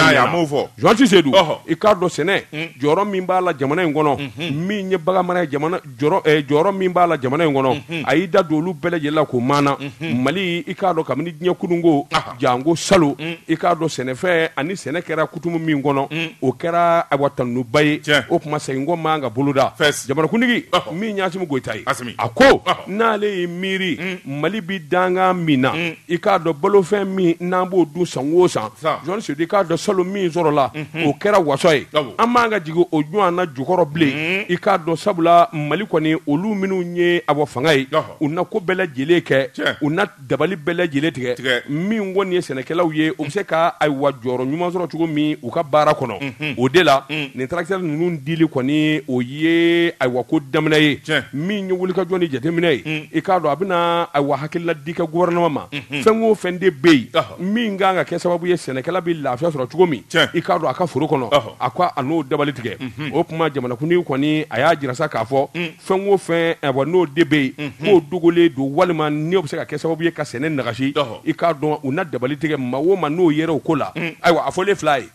journaliste Sedu i k'a dɔn sɛnɛ jɔyɔrɔ min b'a la jamana in kɔnɔ min ye baganmara ye jɔyɔrɔ min b'a la jamana in kɔnɔ a y'i da don olu bɛɛ lajɛlen la k'o maana mali i k'a dɔn kabini diɲɛ kununko jango salo i k'a dɔn sɛnɛfɛn ani sɛnɛ kɛra kutumu min kɔnɔ o kɛra a tanuba ye o tuma se ko ma ka boloda jamanakuntigi min y'Asimi Goyita ye a ko n'ale ye miiri mali bɛ danga min na i k'a dɔn balofɛn min n'an b'o dun san wo san journaliste Sedu i k'a dɔn salo min sɔrɔla o kɛra waso ye an man ka jigin o ɲɔgɔnna jukɔrɔ bilen i k'a dɔn sabula mali kɔni olu minnu ye a fanga ye u na ko bɛɛ lajɛlen kɛ u dabali bɛɛ lajɛlen tigɛ min kɔni ye sɛnɛkɛlaw ye u bɛ se ka ayiwa jɔyɔrɔ ɲuman sɔrɔ cogo min u ka baara kɔnɔ o de la nin tracteurs ninnu dili kɔni o ye ayiwa ko daminɛ ye min ye wulikajɔ ni jateminɛ ye i k'a dɔn a bɛna ayiwa hakilina di kɛ gouvernement ma fɛn o fɛn de bɛ yen min ka kan ka kɛ sababu ye sɛnɛkɛla bɛ lafiya sɔrɔ cogo min i k'a dɔn a ka foro kɔnɔ a ko a n'o dabali tigɛ o tuma jamanakuntigi kɔni a y'a jira sa k'a fɔ fɛn o fɛn eh, n'o de bɛ yen mhm. k'o dogolen don walima ni o bɛ se ka kɛ sababu ye ka sɛnɛ nagasi i k'a dɔn u na dabali tigɛ maa o maa n'o yera o ko la mm. ayiwa a fɔlen filɛ ye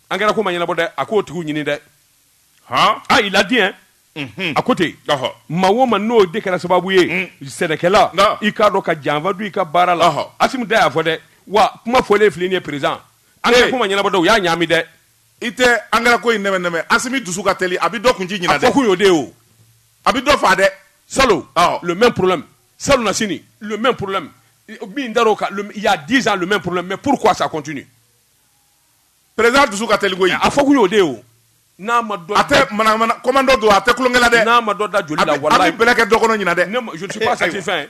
angɛrɛ ko ma ɲɛnabɔ dɛ a k'o tigiw ɲini dɛ ah il l'a dit hein mhm. a ko ten maa o maa n'o de kɛra sababu ye mm. sɛnɛkɛla i k'a dɔn ka janfa don i ka baara la Asimi da y'a fɔ dɛ wa kuma fɔlen filɛ nin ye président angɛrɛ ko ma ɲɛnabɔ dɛ u y'a ɲaami dɛ i tɛ angɛrɛ ko in nɛmɛ nɛmɛ asimi dusu ka teli a bɛ dɔ kunci ɲina dɛ a fɔ kun y'o de ye o a bɛ dɔ fa dɛ salo le même problème salonasini le même problème min dar'o kan il y a 10 ans le même problème mais pourquoi ça continue président dusu ka teli koyi a fɔ kun y'o de ye o n'a ma dɔ a tɛ manamana commando don a tɛ tulonkɛ la dɛ n'a ma dɔ da joli la walayi a bɛ bɛlɛ kɛ dɔ kɔnɔ ɲina dɛ je ne suis pas satisfait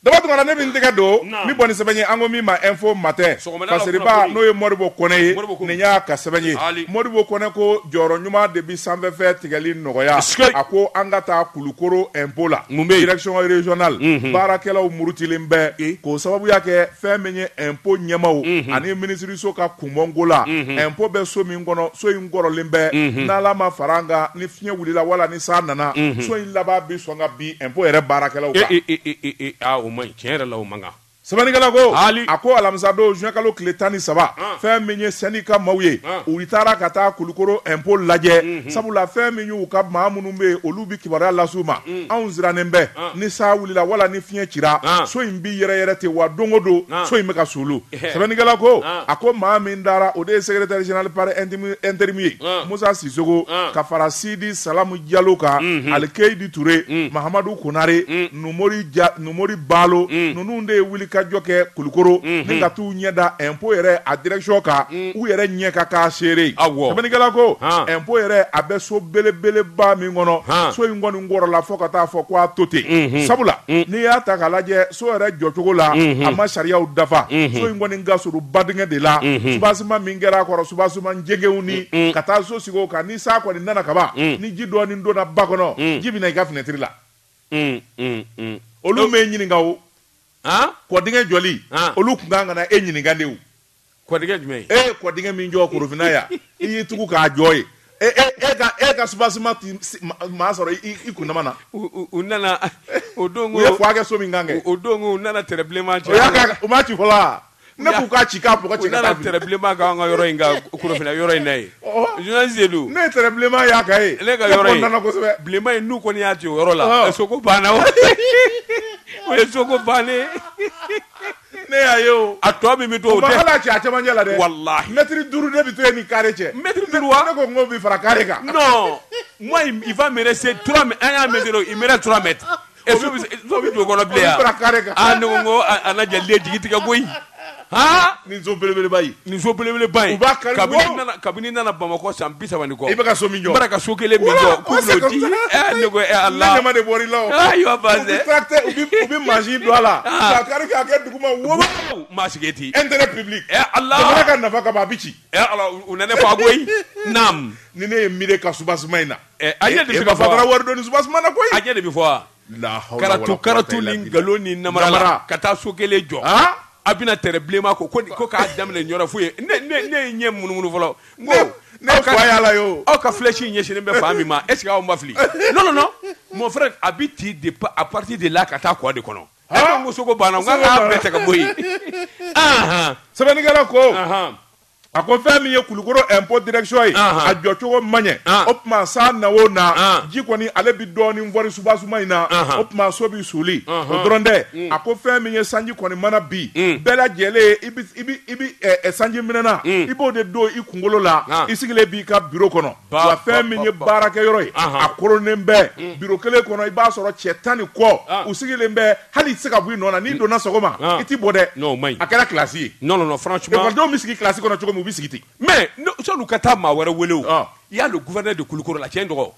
Daba Tunkara ne bɛ n tɛgɛ don min bɔ ni sɛbɛn ye an ko min ma info matin ka seriba n'o ye modibo kɔnɛ ye nin y'a ka sɛbɛn ye modibo kɔnɛ ko jɔyɔrɔ ɲuman de bɛ sanfɛfɛn tigɛli nɔgɔya a ko an ka taa kulukoro impôt la direction régionale baarakɛlaw murutilen bɛ k'o sababu y'a kɛ fɛn min ye impôt ɲɛmaaw ani minisiriso ka kunbɔko la impôt bɛ so min kɔnɔ so in kɔrɔlen bɛ n'ala ma fara an kan ni fiɲɛ wulila wala ni san nana so in laban bɛ sɔn ka bin Impôt yɛrɛ baarakɛlaw kan. E e e e e aa o man ɲi tiɲɛ yɛrɛ la o man kan. Sɛbɛnnikɛla ko. Haali. A ko alamisa don juin kalo tile tan ni saba. An. Fɛn min ye syndicat maaw ye. An. U taara ka taa Kulukoro impôt lajɛ. Unhun. Sabula fɛn min y'u ka maa minnu bɛ yen olu bɛ kibaruya lase u ma. Un. Anw sirannen bɛ. An. Ni sa wulila wala ni fiɲɛ cira. An. So in bɛ yɛrɛyɛrɛ ten wa don o don. An. So in bɛ ka suulu. sɛbɛnnikɛla ko a ko maa min taara o de ye secrétaire général par intérim ye musa sisoko ka fara sidi salamu jalo kan ali keyidi ture mahamadu konare numori balo ninnu de ye wuli ka jɔ kɛ kulukoro ni ka taa u ɲɛ da impôt yɛrɛ a direction kan u yɛrɛ ɲɛ ka k'a seere sɛbɛnnikɛla ko impôt yɛrɛ a bɛ so belebeleba min kɔnɔ so in kɔni kɔrɔla fo ka taa fɔ ko a to ten sabula n'i y'a ta k'a lajɛ so yɛrɛ jɔcogo la a ma sariyaw dafa so in kɔni ka surun badingɛ de la subasima min kɛra a kɔrɔ subasima jɛngɛw ni ka taa so sigi o kan ni sa kɔni nana kaban ni ji dɔɔni donna ba kɔnɔ ji bɛna i ka finɛtiri la olu m'e ɲininka o kɔdingɛ jɔli olu tun kan ka na e ɲininka de Kɔdijɔ i'i tugu k'a jɔ ye e ka subasi maa sɔrɔ i kun na u nana o don kɛ so min kɛ o don u nana tbilenma cɛ u'a ci fɔlɔ ne k'u ka ci tbilenma ka yɔrɔ in yɔrɔ in ye jɔnsedu ne tbilenma y'a ka ye ne ka yɔrɔbilenba in n'u kɔni y'a cɛ o yɔrɔ la banna o ye soko ban ne y'a ye o a tɔ min bɛ to o tɛ hali a cɛ a cɛmancɛ la dɛ walahi mɛtiri duuru ne bɛ to yen ni kare cɛ mɛtiri duuru wa ne ko n ko bi fara kare kan non moi il va me rester trois an y'a mɛtiri il me reste trois mètres et so bɛ so bɛ don o kɔnɔ bilen yan fara kare kan ah ne ko n ko a lajɛ le jigi tigɛ koyi haa nin so belebeleba in nin so belebeleba in u b'a kari wo. kabini n nana bamakɔ san bi saba ni kɔ I bɛ ka so min jɔ. n bɔra ka so kelen min Wala, jɔ k'u o bɛn'o sɛgɛn di fana. ɛ ne ko ɛ ala ne ɲama de bɔr'i la o. Ah, i b'a ban U bɛ dɛ. tracteur- u bɛ- u bɛ mansin don a la. Ah. K'a kari k'a kɛ duguma wo. Wow, maa sigi ten Intérêt public. ɛ ala Jamana ka nafa kama a bɛ ci. ɛ ala u- u nana fɔ a koyi naam Ni ne ye miiri ka subasima in na. ɛ a ɲɛ de E bɛ ka ba fɔ fatara wa wari dɔɔni subasima na koyi. a ɲɛ de bɛ fɔ wa karatu ni nkalon ni namara ka taa so kelen jɔ a bɛna tɛrɛ bilenman ko ko k'a daminɛ yɔrɔ f'u ye ne ye ɲɛ munumunu fɔlɔ yala aw ka flèche ɲɛsinnen bɛ fan min ma est-ce que aw ma fili non mon frère a bɛ ti de à partir de là ka taa kɔ de kɔnɔ n ko so ko banna n k'a bɛɛ ta ka bɔ yen sɛbɛnnikɛla ko A ko fɛn min ye kulukoro impôt direction ye a jɔ cogo man ɲɛ o tuma san na o na ji kɔni ale bɛ dɔɔnin fɔri soubassement in na o tuma so bɛ suli o dɔrɔn tɛ a ko fɛn min ye sanji kɔni mana bin bɛɛ lajɛlen i bɛ sanji minɛnan i b'o de don i kunkolo la i sigilen b'i ka bureau kɔnɔ wa fɛn min ye baarakɛ yɔrɔ ye a koronnen bɛ bureau kelen kɔnɔ i b'a sɔrɔ cɛ tan ni kɔ u sigilen bɛ hali i tɛ se ka bɔ i nɔ na n'i mm. donna sɔgɔma ah. i tɛ bɔ dɛ non o man ɲi a kɛra kilasi ye non non non franchement ekɔlidenw bɛ sigi kilasi kɔnɔ cogo min u bɛ sigi ten mais sɔni ka taa maa wɛrɛ wele o ah. il y a le gouverneur de Kulukoro la tiɲɛ dɔgɔ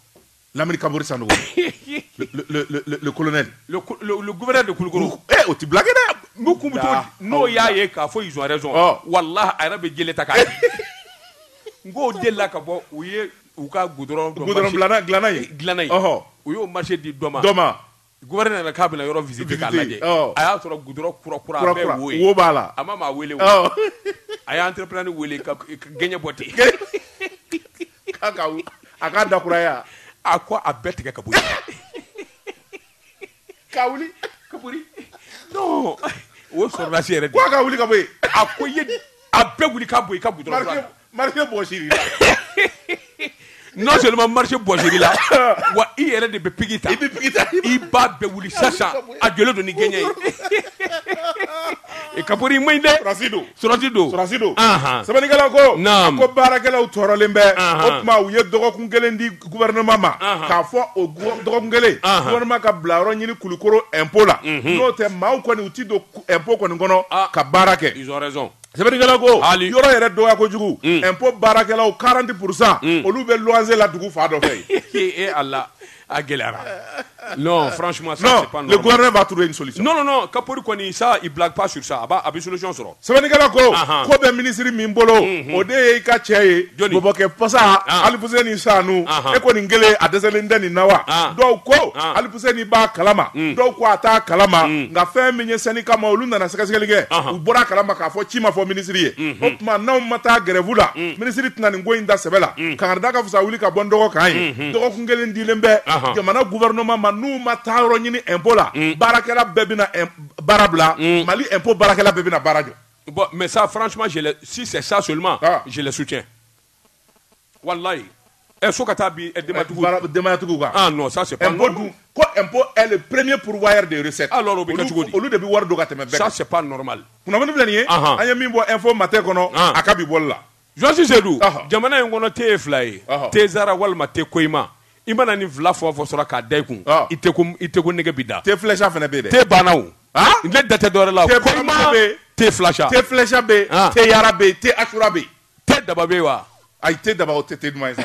Lamini Kapori Sanogo le le le le colonel le le gouverneur de Kulukoro eh o tɛ blague dɛ n'u kun bɛ to n'o y'a ye k'a fɔ ils ont raison ah. walahi a yɛrɛ bɛ jele ta k'a n k'o delila ka bɔ u ye u ka goudron dɔ goudron dilanna dilanna ye dilanna ye ɔhɔ u y'o marché di dɔ ma dɔ ma Gouverneur nana k'a bɛna yɔrɔ visiter k'a lajɛ a y'a sɔrɔ goudron kura wo b'a la a ma maa weele a ye entrepreneur weele ka gɛɲɛ bɔ ten a k'a da kura ye a ko a bɛɛ tigɛ ka bɔ ka wuli Kapori o sɔrɔdasi yɛrɛ ka wuli Kapori a ko a bɛɛ wuli ka bɔ yen ka Marché bɔsir'i la. non seulement marché bɔsir'i la wa i yɛrɛ de bɛ pigi ta. I bɛ pigi ta. I b'a bɛɛ wuli sisan a jɔlen don ni gɛɲɛ ye. Kapori man ɲi dɛ. Sɔrɔdasi don. Sɔrɔdasi don. Sɔrɔdasi don. Anhan. Sɛbɛnnikɛla ko. Naamu. Ko baarakɛlaw tɔɔrɔlen bɛ. Anhan. O tuma u ye dɔgɔkun kelen di gouvernement ma. Anhan. K'a fɔ o dɔgɔkun kelen. Anhan. Gouvernement ka bila yɔrɔ ɲini Kulikoro impôt la. Unhun. N'o tɛ maaw kɔni u tɛ don impôt kɔni kɔnɔ. Aa. Ka baara kɛ. Ils ont raison. Sɛbɛnnikɛla ko hali yɔrɔ yɛrɛ dɔgɔya kojugu mm. impôt baarakɛlaw 40 pourcent mm. olu bɛ loyer la dugu fan dɔ fɛ yen e Allah a gɛlɛyara non franchement ça non, c'est pas normal le gouvernement va trouver une solution non non non Kapori kɔni ça il blague pas sur ça a b'a a bɛ solution sɔrɔ sɛbɛnnikɛla ko ko bɛ minisiri min bolo mm-hmm. o de ye i ka cɛ ye bɔbɔkɛ pasa ah. Alifuseni Sanu e ko nin kelen a dɛsɛlen tɛ nin na wa ah. dɔw ko ah. ni b'a kalama mm. dɔw ko a t'a kalama mm. nka fɛn min ye syndicat maa olu nana sɛgɛsɛgɛli kɛ u bɔra a kalama k'a fɔ ci ma fɔ minisiri ye mm-hmm. o tuma n'aw ma taa grève la mm. minisiri tɛna nin ko in da sɛbɛ la kangarida ka fisa wuli ka bɔ n dɔgɔ kan ye mm-hmm. dɔgɔkun kelen dilen bɛ jamana gouvernement ma n'u ma taa yɔrɔ ɲini impôt la baarakɛla bɛɛ bɛna baara bila Mali impôt baarakɛla bɛɛ bɛna baara jɔ bon mais ça franchement je si c'est ça seulement ah. je le soutiens walayi ɛ so ka taa bin denbatigiw denbayatigiw kan ah non ça c'est pas normal dun ko impôt est le premier pourvoyeur de recettes alors o bɛ kɛ cogo di olu de bɛ wari don ka tɛmɛ bɛɛ kan ça c'est pas normal kunnafoni filɛ nin ye an ye min bɔ info matin kɔnɔ a ka bi bɔli la Jɔsi Sedu jamana in kɔnɔ te ye fila ye te zara walima te koyima i mana nin fila fɔ fɔ sɔrɔ k'a da i kun i te ko i te ko nege bi da te flɛsha fana bɛ yen dɛ te banna o ne da tɛ dɔwɛrɛ la te koyima te flɛsha te flɛsha bɛ yen te yara bɛ yen te asura bɛ yen te daba bɛ wa ayi te daba o tɛ te duman ye sa